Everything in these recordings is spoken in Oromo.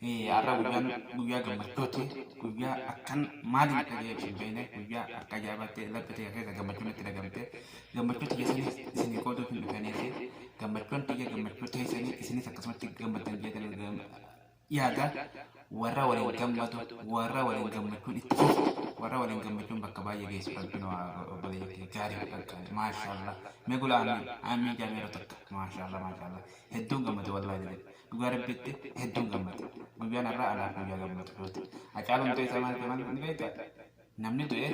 Har'a guyyaan guyyaa gammachuuti. Guyyaa akkan maaliin akka ga'e ibsu hin beekne guyyaa akka ajaa'ibaatti laphee tiyya keessa gammachuun itti dhagamte. Gammachuu tiyya saniif isinii qooduuf hin dhufeeniiti. Gammachuun tiyya gammachuu teessanii isinis akkasumatti gammaddan jeetan yaada. Warra waliin gammadu, warra waliin gammachuun itti fufu, warra waliin gammachuun bakka baay'ee geessu rabbiin obboleeyyan kiyya gaarii fi qaqqaali. Maashaallah. Mee gula amiin. Amiin jaamee yeroo takka. Maashaallah maashaallah. Hedduun gammade wallaahi jedhe. Dhugaa rabbiitti hedduun gammade. Guyyaan har'aa anaaf guyyaa gammachuuti. Hacaaluun du'e samaan samaan ni beekta. Namni du'e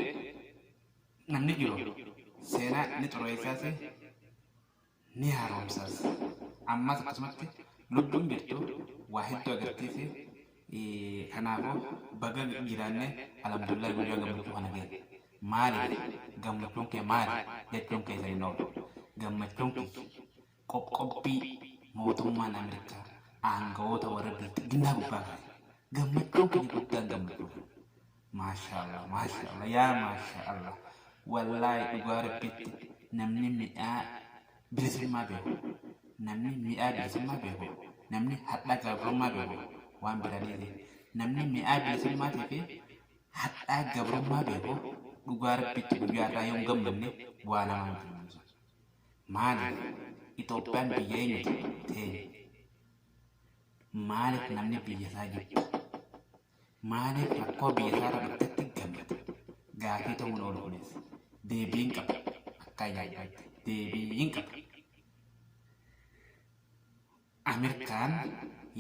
namni jiru seenaa ni xureessaas ni haaromsaas. Ammas akkasumatti lubbuun jirtu waa hedduu agarsiisi. Kanaafuu baga jiraanne alhamdulillah guyyaa gammachuu kana geenye. Maaliif gammachuun kee maali jechuun keessan hin oolu. Gammachuun kiyya Qoqqobbii mootummaan Ameerikaa aangawoota warra bilxiginnaa gubbaa kaaye gammachuun keenya guddaan gammachuu keenya. Maashaallah maashaallah yaa maashaallah wallaahi dhugaa rabbiitti namni midhaa bilisummaa beeku namni mi'aa bilisummaa beeku namni hadhaa gabrummaa beeku waan biraa dhiise namni mi'aa bilisummaatii fi hadhaa gabrummaa beeku dhugaa rabbiitti guyyaa irraa yoon gammanne waa lama miti. Maaliif Itoophiyaan biyya eenyuti? Teenya. Maaliif namni biyyasaa jibba? Maaliif rakkoo biyyasaarra dhuftetti gammada? Gaafii ta'uun oolu kunis. Deebii hin qabu. Akka ajaa'ibatti deebii hin qabu. Amerkaan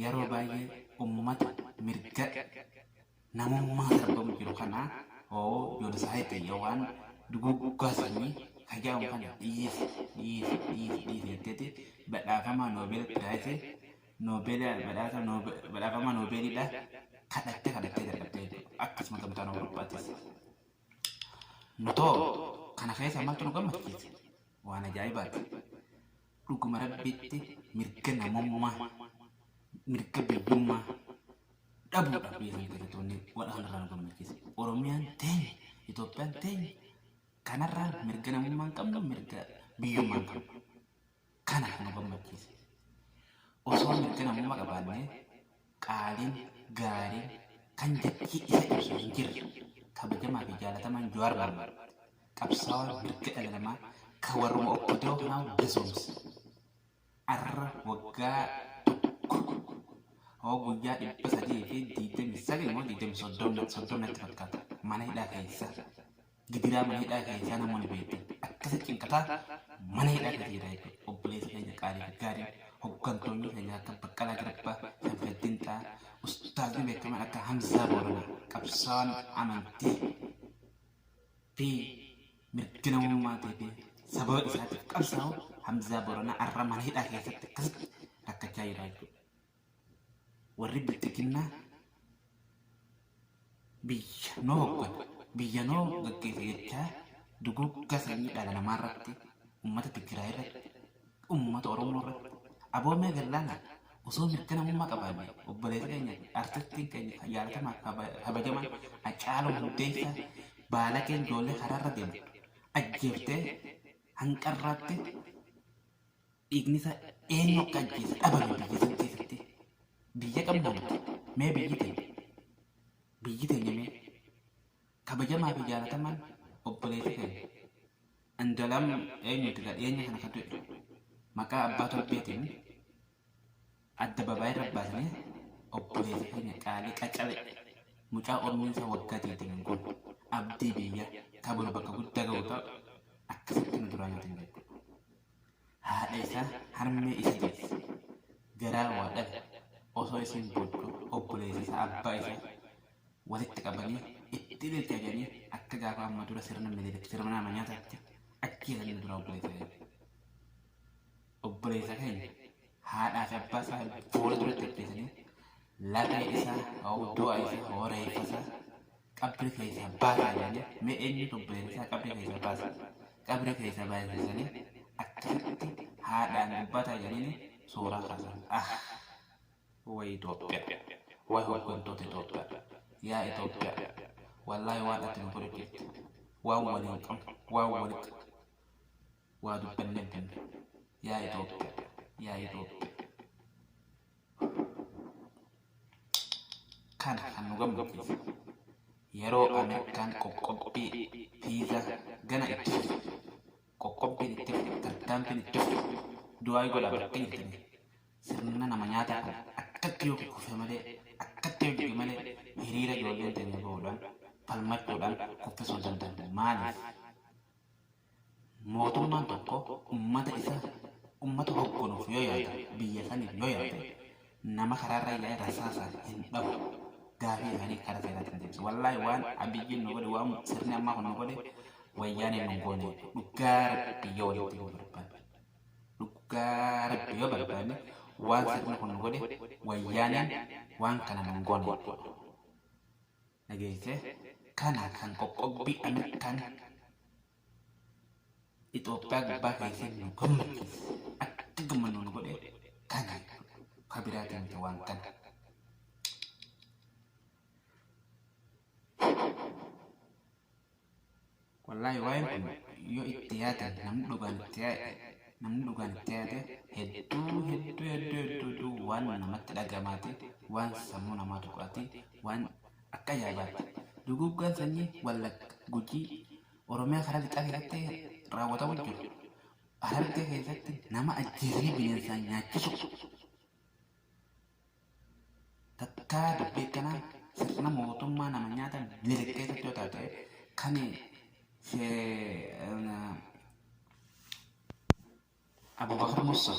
yaroo baay'ee ummata mirga namummaa sarbamu jiru kana oo joonosaayiti yawaan duguuggaa sanyii ka ja'amu kana dhiisi dhiisi dhiisi dhiisi jetteeti badhaafamaa noobeela piraayisi noobeela badhaasa noobe badhaafamaa noobeeliidha kadhattee kadhattee dadhabdee jechuudha akkasuma gamtaan awurooppaatis nutoo kana keessa maaltu nu gammachiise waan ajaa'ibaati Dhuguma Rabbitti mirga namummaa, mirga biyyummaa dhabuudhaaf biyya sana keessattoonni waraana irraa nu mirgise. Oromiyaan teenya, Itoophiyaan teenya kanarraan mirga namummaa hin qabnu, mirga biyyummaa hin qabnu. Kana kan nu gammachiise. Osoo mirga namummaa qabaannee qaaliin, gaariin, kan jechii isa ibsu hin jirre, kabajamaa fi jaalatamaan Jawaar Mohammad, qabsaawaa mirga dhala namaa ka warruma OPDO kanaa gazoomse, arra waggaa tokko hoo guyyaa 329 moo 30 natti fakkaata mana hidhaa keessa. gidiraa mana hidhaa keessaa namoonni beektan akkasa cinqataa mana hidhaa keessa jira jechuudha. Obboleessa keenya qaalii fi gaarii hoggantoonni keenya akka Baqqalaa Garbaa, Sanfeddin Xaa, ustaazni beekaman akka Hamzaa Booranaa qabsaawaan amantii fi mirga namummaatii fi sababa isaatiif qabsaa'u Hamzaa Booranaa har'a mana hidhaa keessatti akkasitti rakkachaa jira jechuudha. Warri bilxiginnaa biyya noo hoggana, biyya noo gaggeessa jechaa duguuggaa sanyii dhala namaa irratti, uummata Tigraay irratti, uummata Oromoo irratti, aboo mee gallaanaa osoo mirga namummaa qabaanne obboleessa keenya fi artistiin keenya kan jaalatamaa fi kaba- kabajaman Hacaaluu Hundeessaa baalageen ijoollee karaarra deemtu ajjeeftee hanqarraatti Dhiignisaa eenyu akka ajjeese dhabame biyya san keessatti. Biyya qabnaa miti. Mee biyyi teenya. Biyyi teenya mee. Kabajamaa fi jaalatamaan obboleessi keenya. Andalam eenyuuti ka dhiyeenya kana ka du'e. Maqaa abbaa torbeetiin adda babaayirra baasnee obboleessi keenya qaalii qacalee mucaa umriinsa waggaa 20 kun abdii biyya ka boru bakka guddaa ga'u ta'a akkasitti nu duraa nyaatan jedhu. Haadha isaa harmee isa deesse garaa waa dhabe osoo isiin boodduu obboleessa isaa abbaa isaa walitti qabanii itti ililcha jedhanii akka gaafa amma dura sirna minilik sirna nama nyaataatti ajjeesanii dura obboleessa keenya. Obboleessa keenya haadhaa fi abbaa isaa boola duratti ajjeesanii lafee isaa hoo du'a isaa hoo reeffa isaa qabri keessa baasaa jedhanii mee eenyutu obboleessa isaa qabri keessa baasa qabri keessa baasisanii akkasitti haadhaan dubbataa jedhanii suuraa kaasan ah way Itoophiyaa way hooggantoota Itoophiyaa yaa Itoophiyaa wallaahi waan ati nu godhe jirti waan waliin qabu waan walitti waa dubbannee binne yaa Itoophiyaa yaa Itoophiyaa Kana kan nu gammachiisu yeroo Ameerikaan qoqqobbii viizaa gana itti fufu, qoqqobbiin itti fufu, tarkaanfiin itti fufu, du'aayi godhaa bakkee jirtanii sirna nama nyaataa kun akkatti yoo kuffe malee, akkatti yoo jige malee hiriira ijoolleen teenya bahuudhaan, falmachuudhaan kuffisuu hin dandeenye. Maaliif? Mootummaan tokko ummata isa ummata hogganuuf yoo yaada biyya saniif yoo yaada nama karaarra yaa'e rasaasaan hin dhabu gaafii isaanii karaa seeraatiin deebisa. Wallaahi waan abiyyiin nu godhe waan sirni ammaa kun nu godhe wayyaaneen nu goone dhugaa rabbi yoo walitti nu barbaanne. Dhugaa rabbi yoo barbaanne waan sirni kun nu godhe wayyaaneen waan kana nu goone jechuudha. dhageessee kana kan qoqqobbii Ameerikaan Itoophiyaa gubbaa keessee nu gammachiise akka gammannu nu godhe kana ka biraatiin miti waan kana. Wallaahi waa'een kun yoo itti yaadame namni dhugaan itti yaade namni dhugaan itti yaade hedduu hedduu hedduu hedduu hedduu waan namatti dhagamaati waan sammuu namaa tuqaati waan akka ajaa'ibaatti duguuggaan sanyii wallagga gujii oromiyaa karaa lixaa keessatti raawwatamu jiru harargee keessatti nama ajjeesanii bineensaan nyaachisu Takkaa dubbii akkanaa sirna mootummaa nama nyaata miliq keessatti yoo taate kan Abubakar Musa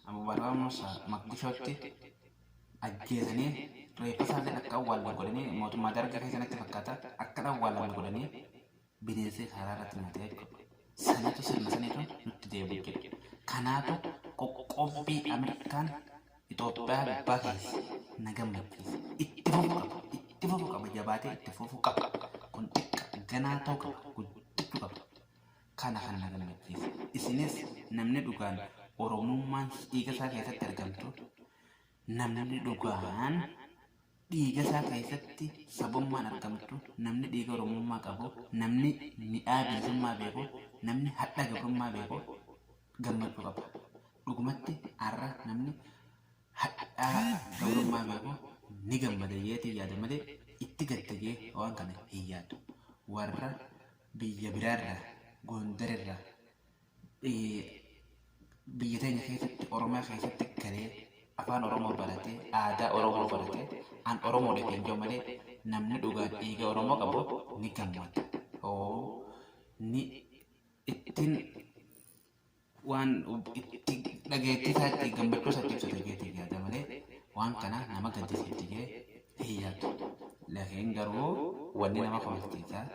Abubakar Musa Maqdishootti ajjeesanii reeffa isaallee akka awwaalan godhanii mootummaa dargii keessanitti fakkaata akka awwaalan godhanii bineensee karaa irratti nu ta'e jechuudha. Saniitu sirna saniitu nutti deebi'u jechuudha. Kanaatu qoqqobbii Ameerikaan Itoophiyaa gubbaa keessa na gammachiise. Itti fufu qaba. Itti fufu qaba. Jabaatee itti fufu qaba. Kun xiqqa ganaa ta'u qaba. Guddachuu qaba. Kana kan na gammachiise. Isinis namni dhugaan Oromummaan dhiiga isaa keessatti argamtu namni dhugaan Dhiigasaa keessatti sabummaan argamtu, namni dhiiga Oromummaa qabu, namni midhaa bilisummaa beeku, namni hadha gabrummaa beeku gammachuu qaba. Dhugumatti har'a namni hadhaa gabrummaa beeku ni gammada jeetiin yaada malee itti gadda jee waan kana hin yaadu. Warra biyya biraarraa, Gondarirraa, biyya teenya keessatti Oromiyaa keessatti galee afaan Oromoo baratee aadaa Oromoo baratee an Oromoo dha kan jedhu malee namni dhugaan dhiiga Oromoo qabu ni gammada. Oo ni ittiin waan itti dhageettii isaa itti gammachuu isaa itti ibsata jeetii yaada malee waan kana nama gaddisiifti jee hin yaadu. Laakiin garuu wanni nama kofalchiisaa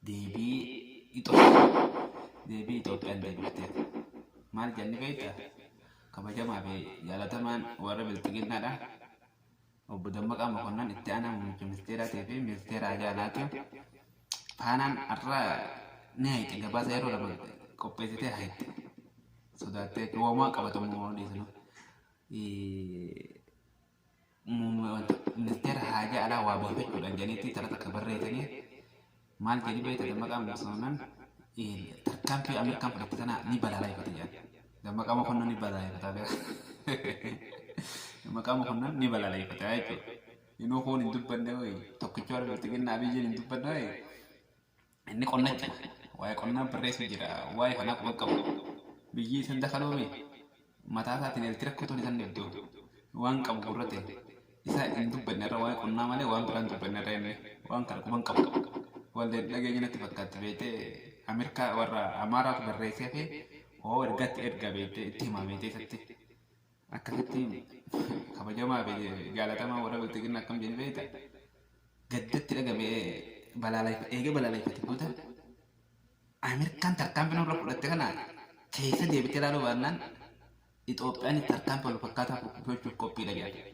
deebii deebii Itoophiyaan deebifteef maal jenni beekta? Kabajamaa fi jaalatamaan warra bilxiginnaadha. Obbo Dammaqaa Mokonnan itti aanaa muummicha ministeeraatii fi ministeera hajaa alaati. Faanaan har'a ni hayxe gabaasa yeroo lama qopheessitee hayxe. Sodaattee wamaa qabatamu waan odeessinu. ministeera haajaa alaa waabeeffachuudhaan jedhanitti xala takka barreessanii maal jedhi beekta dammaqaa mokonnan tarkaanfii Ameerikaan fudhatte tana ni balaaleffata jedhan. Dammaqaa mokonnan ni balaaleffata beeka. Dammaqaa mokonnan ni balaaleffata jechuudha. Inuu kun hin dubbanne hoyi tokkicha warra bilxiginnaa abiyyiin hin dubbanne hoyi Inni qonna itti fufe. Waa'ee qonnaa barreessu jira. Waa'ee kanaa quban qabu. Biyyi isan dakaloome mataa isaatiin eelti rakkotoon isan dhibdu. Waan qabu gurra ta'e. Isaa hin dubbanne irra waa'ee qonnaa malee waan biraan dubbanne irra inni waan kana quban qabu. Walleen dhageenya natti fakkaatti beektee Ameerikaa warra Amaaraatu barreessee hafee hoo ergatti erga beektee itti himaa beektee isatti. Akkasitti himi. Kabajamaa fi jaalatamaa warra bilxiginna akkam jedhe beekta? Gaddatti dhagame eega balaaleffate booda Ameerikaan tarkaanfii nurra fudhatte kana keessa deebitee ilaaluu baannaan Itoophiyaan tarkaanfii wal fakkaataa fudhachuuf qophiidha jedhan.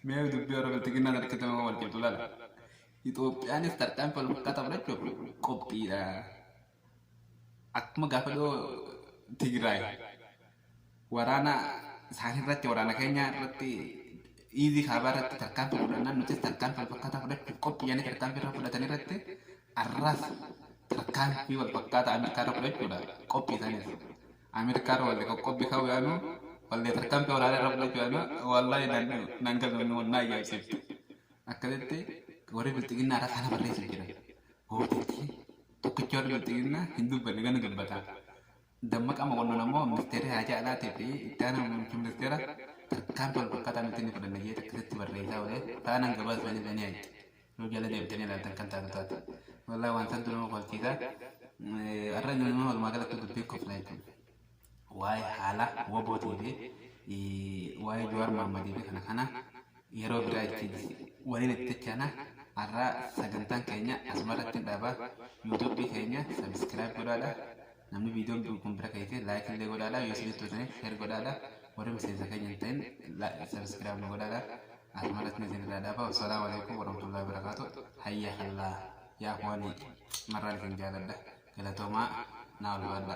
Mee dubbii warra bilxiginnaa sana keessatti nama wal cimtu ilaala. Itoophiyaanis tarkaanfii wal fakkaataa fudhachuuf qophiidha. akkuma gaafa dhoo Tigraay waraana isaanii irratti waraana keenya irratti iizii kaabaa irratti tarkaanfii fudhannaan nutis tarkaanfii wal fakkaataa fudhachuuf qophiyyanii tarkaanfii irra fudhatan irratti arraas tarkaanfii wal fakkaataa Ameerikaa irra fudhachuudha qophii isaaniis. Ameerikaa irra wallee qoqqobbii ka'uu yaanu wallee tarkaanfii waraanaa irra fudhachuu yaanu wallaahi naan galmamne wal naa ajaa'ibsiifte. Akkasitti warri bilxiginnaa irra kana barreessuuf jiran. Hooteetii Tokkichi yoo dubbatu jenna hin dubbanne gana dubbata. Dammaqaa Mokonnon ammoo ministeerri haajaa alaatii fi itti aanaa muummichi ministeera tarkaanfii wal fakkaataa nuti ni fudhanna jedhee takkisitti barreessaa oolee faanaan gabaasa isaanii illee ni haqxe. Yoo jala deebitanii ilaaltan kan taatu taate. Wallaahi waan santu nama kofalchiisa. Har'a nama walumaa galatti dubbii koflaa jechuudha. waa'ee haala wabootii fi waa'ee Jawaar Mohammadii fi kana kana yeroo biraa ittiin waliin itti dachana har'aa sagantaan keenya asuma irratti hin dhaaba yuutuubii keenya sabiskiraayib godhaadha namni viidiyoon kun bira ka'ee fi laayik illee godhaadha yoo isinitti toltaniif sheer godhaadha warri miseensa keenya hin ta'in sabiskiraayib nu godhaadha asuma irratti isin irraa dhaaba wassalaamu alaikum warahmatullahi wabarakaatu hayya kallaa yaa kuwanii marraan isin jaaladha galatoomaa naa ulfaadha.